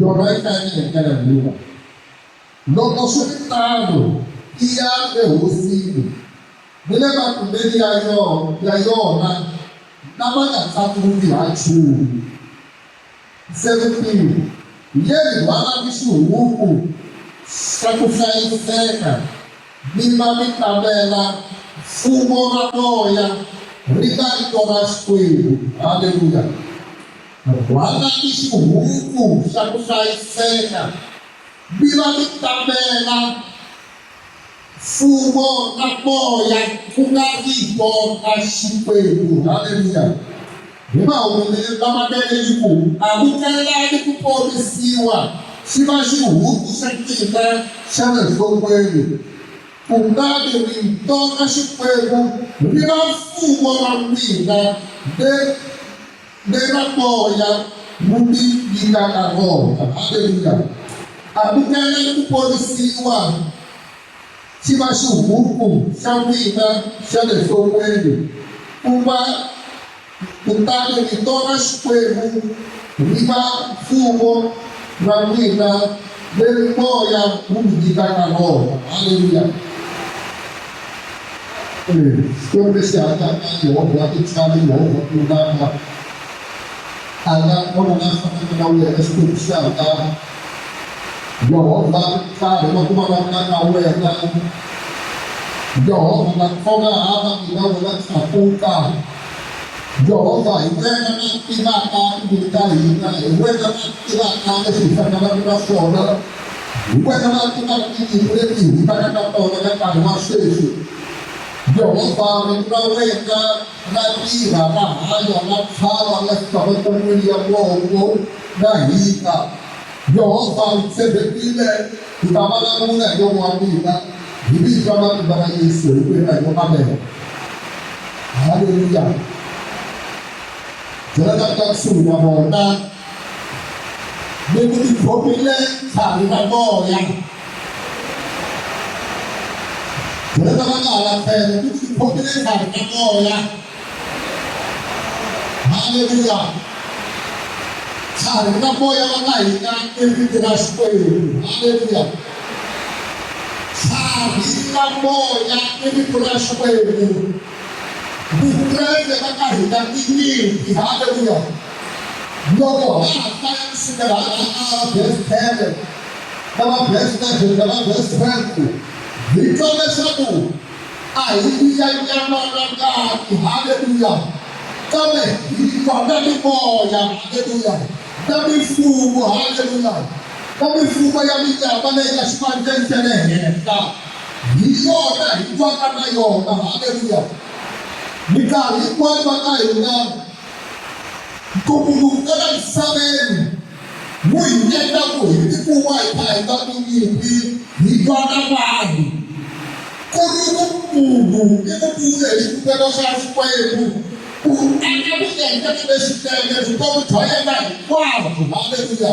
Yona yi ta yi endlela hikuva loko swi ri tano i ya ehosini ni le makumbeni ya yona ya yona lama nga tlakuki ha nchumu. Se mpimo yeli rhwala ni xihuku xa ku hlayiseka mi va mi tamela mfumo ra moya ri nga ri tona Xikwembu. Haleluya! Rhwala ni xihuku xa ku hlayiseka, mi va mi tamela Mfumo na Moya ku nga Rito ra Xikwembu. Haleluya! Hi mahumelelo lamanene yi ku, Amukelani ku ponisiwa, xi va xihuku xa n'wina xa le nhlokweni, kutani Rito ra Xikwembu ri va mfumo wa n'wina, leri Nena moya mubi yi nga ka vona. Haleluya. A ku tele ku ponisiwa xi va xihuku xa n'wina xa le nhlongweni, ku va kutani vito ra Xikwembu ri va mfumo ra n'wina leri moya wu mi nyikaka rona. Haleluya. Xikwembu lexi hanyaka Yehovha wa tintswalo Yehovha ku lulama a nga kona la fanaka na wena Xikwembu xi hangana Yehovha nkarhi wa ku vulavula na wena Yehovha nga khoma hava mina wena tlakuka Yehovha hi wena na tivaka timbilu ta hina hi wena na tivaka leswi hi fanelaka na swona Hikwalaho ka tinyungu leti hi vaka na tona ka nkarhi wa sweswi, Yehovha Rito ra wena ra tirha, ra hanya, ra tlhava, ra fika matshan'weni ya mongo, ra hika. Yehovha u tshembekile, u ta vulavula hi nomo wa mina, hi vito ra matimba ra Yesu, hi ku hela yo amena. Haleluya! Byela lava nga kusuhi na vona mi ku ti khomile tlhari ra moya dyondzo va nga hala tlhelo mi ti khomile tlhari ra moya haleluya tlhari ra moya va ka hina i riti ra xikwembu haleluya tlhari ra moya i rito ra xikwembu Vukreste ka ka hina i nyimpi haleluya loko ha ha hlaya kusukela hala ka verse ten na va verse eleven na va verse twelve hi twa leswaku a hi tiya nyama na ngati haleluya kambe hi twa na mimoya haleluya na mifumo haleluya na mifumo ya minyama leyi ya xivandzeni xa le henhla Hi yona hi twaka na yona. Haleluya! Minkarhi hinkwayo va ka hina ntumbuluko ka la misaveni wu hi endla ku hi tikuma hi kha hi nga tinyimpi hi twa na vanhu ku ri vumunhu i vupfule hi xivukelo xa xikwembu ku aka vuendlelo leswinene vutomi bya yena hinkwabyo haleluya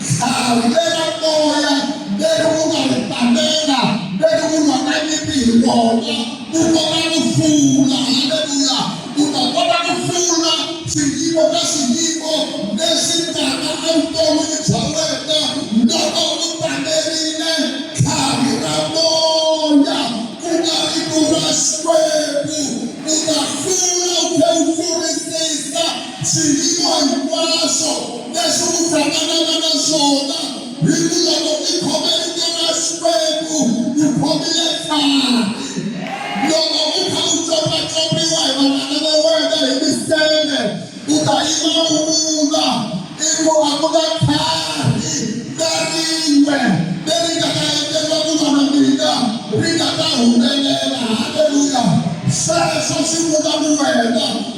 hlawulela moya mberi wu nga ri tamela mberi wu lwa na nyimpi hi wona u kota ku hlula haleluya u ta kota ku hlula swiyimo ka swiyimo leswi taka evuton'wini bya wena loko u tamerile tlhavi ra moya ku nga ri ku ra xikwembu u ta hlula u tlhe u hlurisisa Swiyimo hinkwaswo leswi u hlanganaka na swona hi ku loko i khome rito ra Xikwembu u khomile khadi. Loko u kha u copacopiwa hi vanghana va wena hi miseve u ta yima u vula i ku a ku na khadi na rin'we leri nga ta endleriwa ku va na mina ri nga ta humelela. Haleluya! Sweswo swi vula ku wena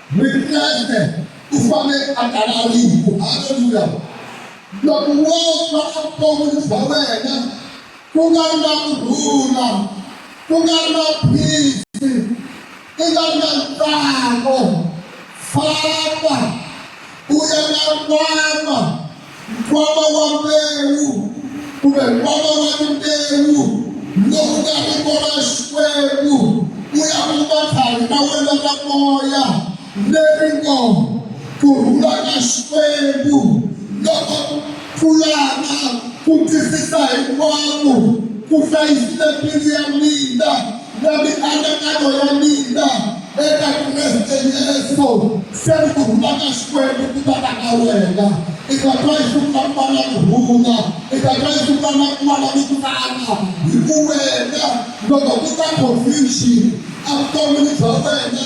Presidente u fanele a talariku haleluya loko wo va a vutomi bya wena ku nga ri na ku rhula ku nga ri na phisi i nga ri na ntsako famba u ya na nkwama nkwama wa mbewu kumbe nkwama wa timbewu lowu nga ri kona xikwembu u ya kuma tlhari ka wena ka moya leri ngo ku rhula ka xikwembu loko pfulana ku twisisa hinkwako ku hlayisile mbilu ya mina Na mianakanyo ya mina eka Kreste Yesu se ni ku huma ka Xikwembu ku ta ka ka wena i ta twa yi ku ka mala ku huma i ta twa yi ku ka mala ku kala hi ku wena loko ku ta confusion a vutomi bya wena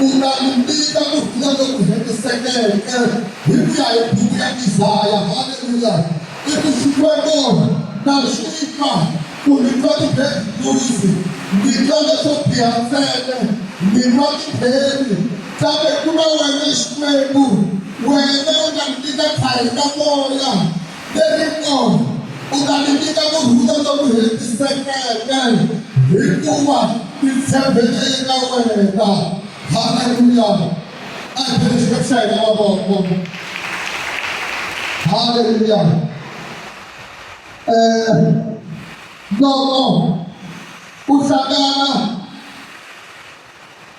U nga ni mbita ku vula loku hetisekeke hi ku ya hi buku ya Isaya, Haleluya! I ku Xikwembu na xi fa, ku ni twa ti-bad news, ni twa leswo biha ntsena, ni nwa ti-pain. Kambe ku na wena Xikwembu, wena u nga ni nyika tlhari ra moya lerintsongo u ta ni nyika ku rhula loku hetisekeke hikuva ti tshembele eka wena haleluya a hi phele xikepe xa hina mavoko haleluya um loko u hlangana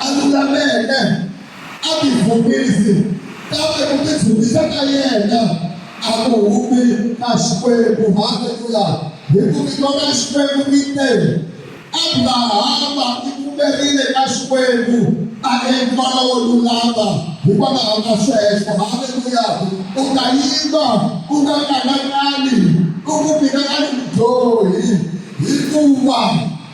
a lulameke, a tivhumisi, kambe ku tivhumisa ka yena a ku humi ka Xikwembu. Haleluya! Hi ku vito ra Xikwembu mi te, Abrahama i pfumerile ka Xikwembu a endliwa lowo lulama hikwalaho ka sweswo. Haleluya! U nga yima, u nga kanakani, u ku mina a ni mudyohi hikuva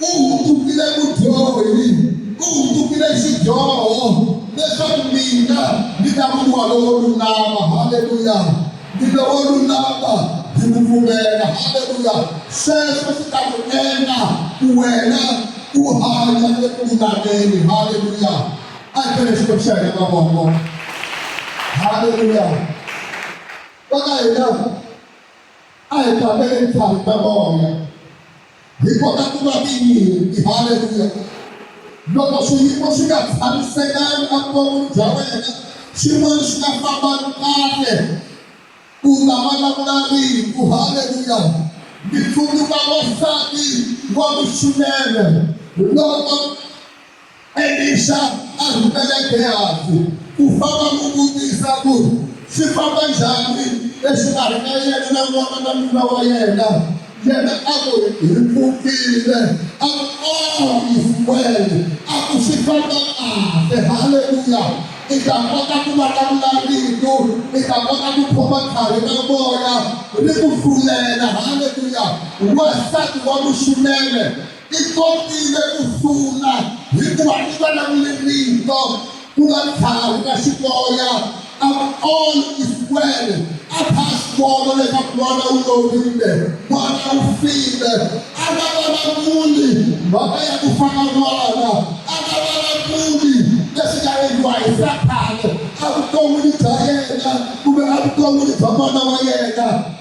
U hundzukile mudyohi, u hundzukile xidyoho, leswaku mina ndzi ta vuriwa lowo lulama. Haleluya! Ndzi lowo lulama hi ku pfumela. Haleluya! Sweswo swi ta ku endla ku wena u hanya eku lulameni. Haleluya! A hi tele Xikwembu xa hina mavoko. Haleluya! Va ka hina A hi tlangeni tlhari ta moya. Hi kota ku va tinyimpi. Haleluya! Loko swiyimo swi nga tshamisekanga evuton'wini bya wena, swin'wana swi nga fambangi kahle, u ta vulavula rito. Haleluya! Ndzi tsundzuka wansati wa muchudeni loko Elixa a rhumela Gehazi ku famba n'wi vutisa ku swi famba njhani exikarhi ka yena na n'wana na nuna wa yena. Yena a ku, Hi pfukile. A ku, O Isiwele, a ku swi famba kahle. Haleluya! I ta kota ku vulavula rito, i ta kota ku khoma khari ra moya ri ku hlulela. Haleluya! Wansati wa muxunene Ti kotile ku hlula hikuva ti vulavule rito ku nga tlhavi ka xikoya a all is well a kha a swi vona leswaku n'wana u lovile n'wana u file a nga vulavuli mhaka ya ku fana n'wana a nga vulavuli leswi nga endliwa hi sathane evuton'wini bya yena kumbe evuton'wini bya n'wana wa yena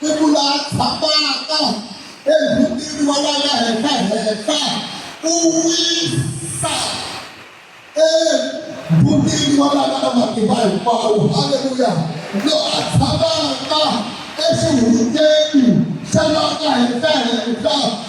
Siku laha tshamaka emutini wa la nga henhla-henhla u wisa emutini wa la nga na matimba hinkwawo haleluya lo a tshamaka exihundeni xa la nga henhla-henhla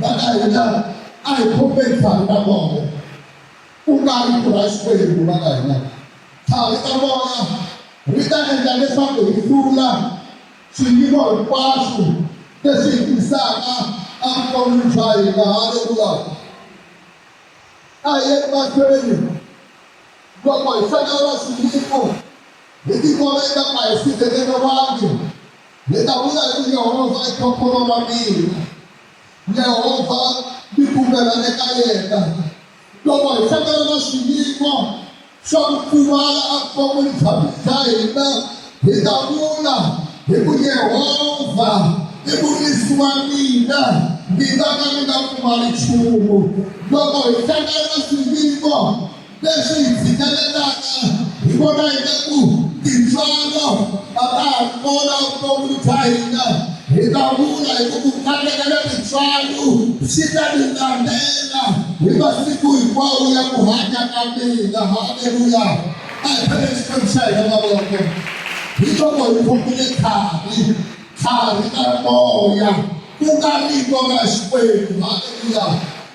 Vana hina a hi khombeni thavi ta moya, ku nga ri ku ra Xikwembu. Vana hina, thavi ta moya ri ta endla leswaku hi hlula swiyimo hinkwaswo leswi hi tisaka evuton'wini bya hina. Haleluya! A hi yeni mahlweni loko hi hlangana na swiyimo. Hi tikoleta a hi sirheleriwangi. Hi ta vula hi ku, Yehovha i khokhono ra mina. Yehovha ni pfumela eka yena. Loko hi hlangana na swiyimo swa ku pfumala evuton'wini bya bya hina, hi ta vula hi ku, Yehovha i murisi wa mina, ni nga ka ni nga pfumali nchumu. Loko hi hlangana na swiyimo, Leswi hi tshikelelaka hi vona ingaku tintswalo a ta ha ri kona vuton'wini bya hina. Hi ta vula hi ku ku kateka na tintswalo swi ta ni landzela hi masiku hinkwawo ya ku hanya ka mina. Haleluya! A hi phaleni Xikwembu xa hina mavoko. Hi loko hi khomile tlhavi, tlhavi ra moya, ku nga vito ra Xikwembu. Haleluya!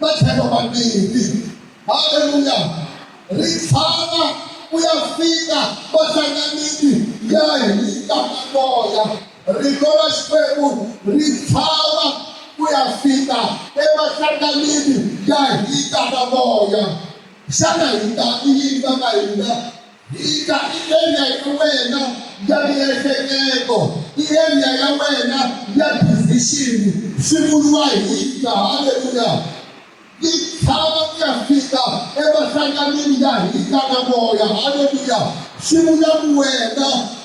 matlhelo mambirhi haleluya ri tshama ku ya fika vahlanganisi ya hita maloya rito ra xikwembu ri tshama ku ya fika evahlanganini ya hita maloya xana hita i yini va nga hina Yi ta endla ya wena ya miehleketo, yi endla ya wena ya decision-i swi vuriwa hi ta, haleluya, yi chava ku ya fika emahlanganweni ya hina na moya, haleluya, swi vula ku wena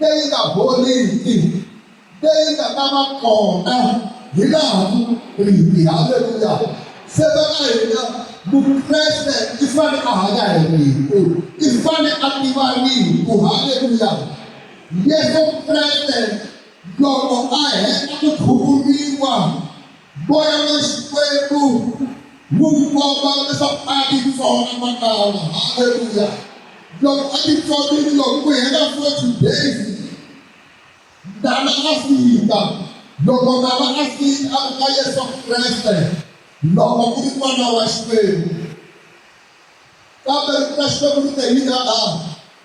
leyi nga boriki leyi nga ta va kona hi laha hi haleluya se va ka hina mukreste i fane a hanya hi rito i fane a tiva rito haleluya yesu kreste loko a heta ku khuvuriwa Moya wa Xikwembu wu komba leswaku a ti tsona makala. Haleluya! Loko a ti tsonile loko ku hela forty days, ndala a fika. Loko ndala a fika a ka Yesu Kreste, loko ku ri n'wana wa Xikwembu. kambe ri ta Xikwembu ri te yini a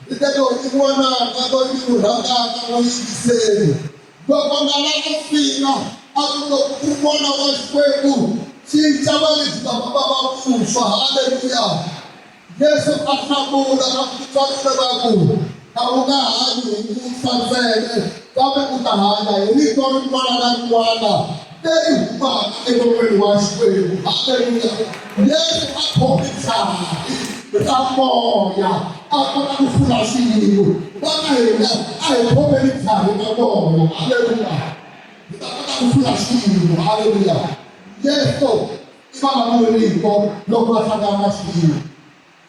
ri te loyi i n'wananga loyi ni n'wi rhandaka n'wi yingiseli loko nga la ku fika a ku loko ku n'wana wa Xikwembu cinca valebyi va va va vuswa haleluya yesu a hlamula na ku titsarisa va ku A wu nga hanyi hi ku fa ntsena, kambe u ta hanya hi rito rin'wana na rin'wana leri humaka enon'weni wa Xikwembu. Haleluya! Yesu a khome jaha ra moya a kota ku hlula xiyimo. Vana hina a hi khomeni jaha ra moya. Haleluya! Hi ta kota ku hlula xiyimo. Haleluya! Yesu i vulavuri rito loko va hlangana na xiyimo.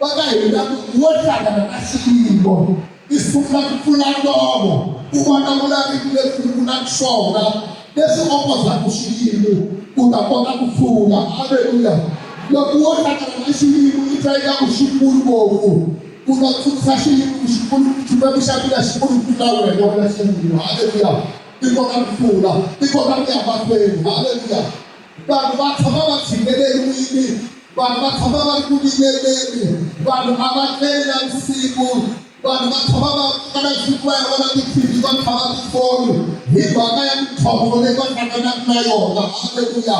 Va ka hina wo hlangana na xiyimo i sungula ku pfula nomo ku vona vulaviki lebyi ku na swona leswi opozaku xiyimo u ta kota ku pfula aleluya loko wo hlangana na xiyimo i twa ingaku xi kulu ngopfu u ta tsundzuxa xiyimo ku xi kulu xikwembu xa mina xi kulu ku tlula wena wena xiyimo aleluya i kota ku pfula i kota ku ya mahlweni aleluya vanhu va tshama va tshineleriwile vanhu va tshama va ri ku vikeleni vanhu a va tleli na vusiku vanhu va tshama va kala xikwela va na ti-tv va tlhava tifoni hi mhaka ya mintlhontlho leyi va hlanganaka na yona halleluya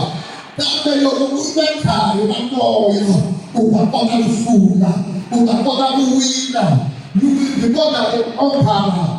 kambe loko u ri na nkarhi na moya u ta kota ku hlula u ta kota ku wina you will be more than a conqueror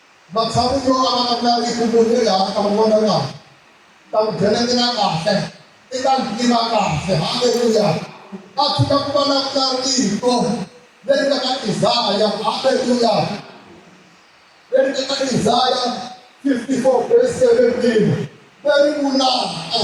Matshan'wini yo avana ku nga riki munhu loyi a nga ta n'wi vona kahle, ni ta n'wi byeletela kahle, ni ta n'wi tiva kahle. Haleluya! A swi ta ku va na ku nga rito leri nga ka Isaya. Haleluya! Leri nga ka Isaya 54 verse 17 leri vulaka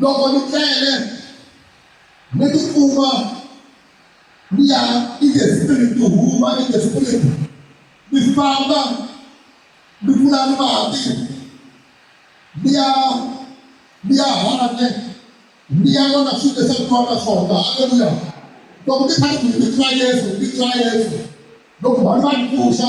Loko ni tlele, ni ti kuma ni ya in the spirit, ni huma in the spirit, ni famba ni vula ni mati, ni ya ni ya handle, ni ya vona swilo leswi a ni twana swona. Haleluya! Loko ni kha ni ku ni twa Yesu, ni twa Yesu. Loko vanhu va ni pfuxa,